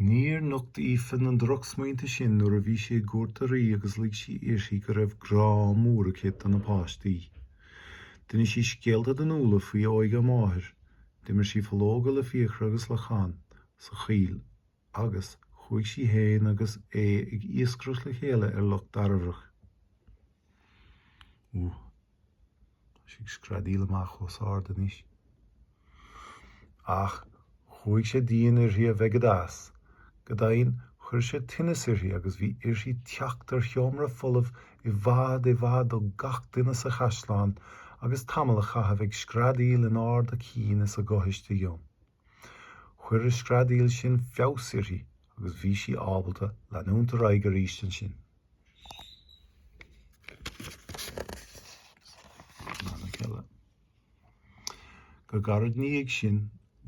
Níor nocht Aoife na drochsmaointe sin nuair a bhí sí i gcúirt an rí agus lig sí uirthi go raibh grá mór aici do na páistí. D'inis sí scéalta d'Fhionnuala faoi óige a máthair, d'imir sí fológa le Fiachra agus le Conn sa choill agus chuaigh sí féin agus Aodh ag iascaireacht le chéile ar Loch Dairbhreach. Tá sí ag screadaíl amach ós ard anois. Ach chuaidh sé dian uirthi a bheith go deas. Go deimhin chuir sé tinneas uirthi agus bhí uirthi teacht ar sheomra folamh i bhfad i bhfad ó gach duine sa chaisleán agus tamall a chaitheamh ag screadaíl in ard a cinn is a gutha istigh ann. Chuir an screadaíl sin feabhas uirthi agus bhí sí ábalta leanúint ar aghaidh arís ansin. Go gairid 'na dhiaidh sin,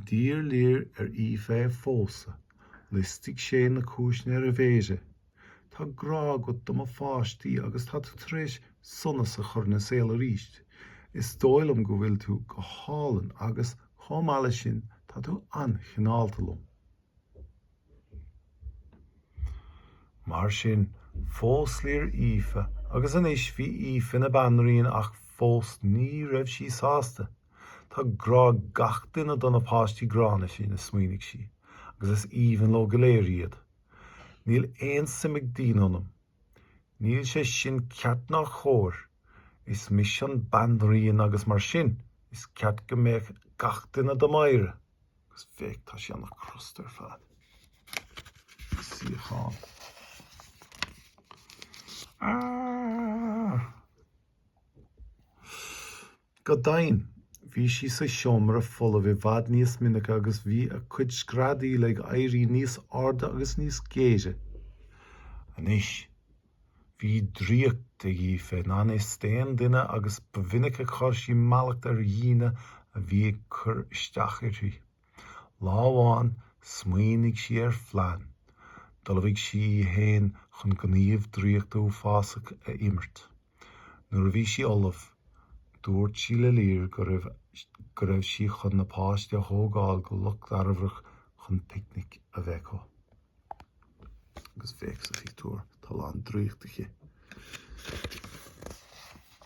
d'iarr Lir ar Aoife é a phósadh. Liostaigh sé na cúiseanna ar a mhéara. Tá grá agat do mo pháistí agus tá tú tar éis sonas a chur ina saol arís. Is dóigh liom go bhfuil tú go hálainn agus, chomh maith leis sin, tá tú an-chineálta liom. Mar sin, phós Lir Aoife agus anois bhí Aoife ina banríon ach fós ní raibh sí sásta. Tá grá ag gach duine do na páistí gránna sin, a smaoinigh sí, agus is aoibhinn leo go léir iad. Níl aon suim ag daoine ionam. Níl sé sin ceart ná cóir. Is mise an banríon agus mar sin is ceart go mbeadh gach duine dom adhradh. Agus féach, tá sé ana crosta ar fad. Ag suíochán. Arrgh! Go deimhin, bhí sí sa seomra folamh i bhfad níos minice agus bhí a cuid screadaíl ag éirí níos airde agus níos géire. Anois, bhí draíocht ag Aoife i ngan fhios d'aon duine agus ba mhinic a chuir sí mallacht ar dhaoine a bhí ag cur isteach uirthi. Lá amháin smaoinigh sí ar phlean. D'ullmhaigh sí í fhéin chun gníomh draíochta uafásach a imirt. Nuair a bhí sí ullamh, dúirt sí le Lir go raibh sí chun na páistí a thógáil go Loch Dairbhreach chun picnic a bheith acu. Agus féach sa phictiúr, tá a lán draíocht aici.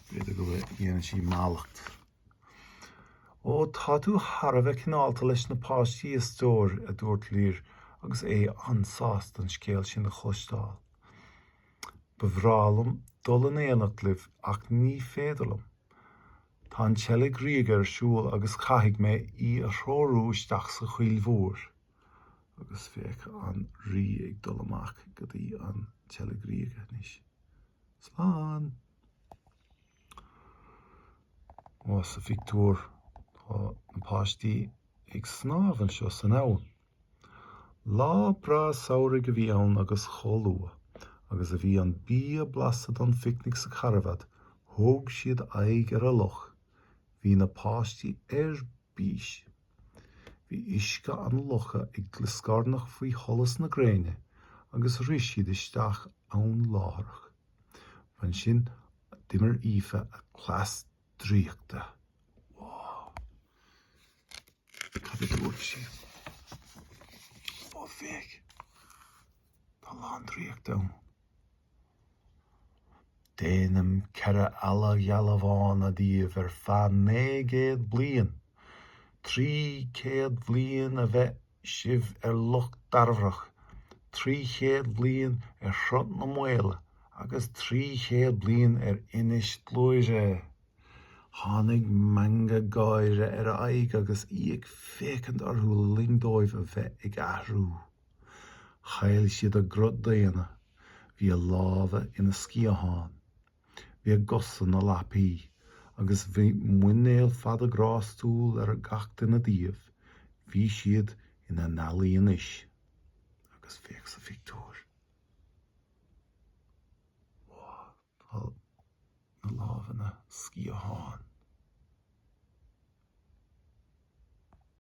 B'fhéidir go bhfuil, dhéanann sí mallacht. Ó, tá tú thar a bheith cineálta leis na páistí a stór, a dúirt Lir agus é an-sásta an scéal sin a chloisteáil. Ba bhreá liom dul in éineacht libh ach ní féidir liom. Tá an tSeilg Ríoga ar siúl agus caithfidh mé í a threorú isteach sa choill mhór. Agus féach an Rí ag dul amach go dtí an tSeilg Ríoga anois. Slán! Sa phictiúr tá na páistí ag snámh anseo san abhainn. Lá breá samhraidh a bhí ann agus chomh luath agus a bhí an bia blasta don phicnic sa charbhat thug siad aghaidh ar an loch. Bhí na páistí ar bís. Bhí uisce an locha ag glioscarnach faoi sholas na gréine agus rith siad isteach ann láithreach. Ansin d'imir Aoife a cleas draíochta. Cad a dúirt sí? Ó, féach. Tá lán draíochta ann. Déanaim ceithre eala gheala bhána díbh ar feadh naoi gcéad bliain. Trí chéad bliain a bheidh sibh ar Loch Dairbhreach, trí chéad bliain ar Shruth na Maoile agus trí chéad bliain ar Inis Gluaire. Tháinig meangadh gáire ar a haghaidh agus í ag féachaint orthu le linn dóibh a bheith ag athrú. Chaill siad a gcruth daonna. Bhí a lámha ina sciatháin. Bhí a gcosa ina lapaí agus bhí muinéal fada grástúil ar gach duine díobh. Bhí siad ina n-ealaí anois. Agus féach sa phictiúr. Tá na lámha ina sciatháin.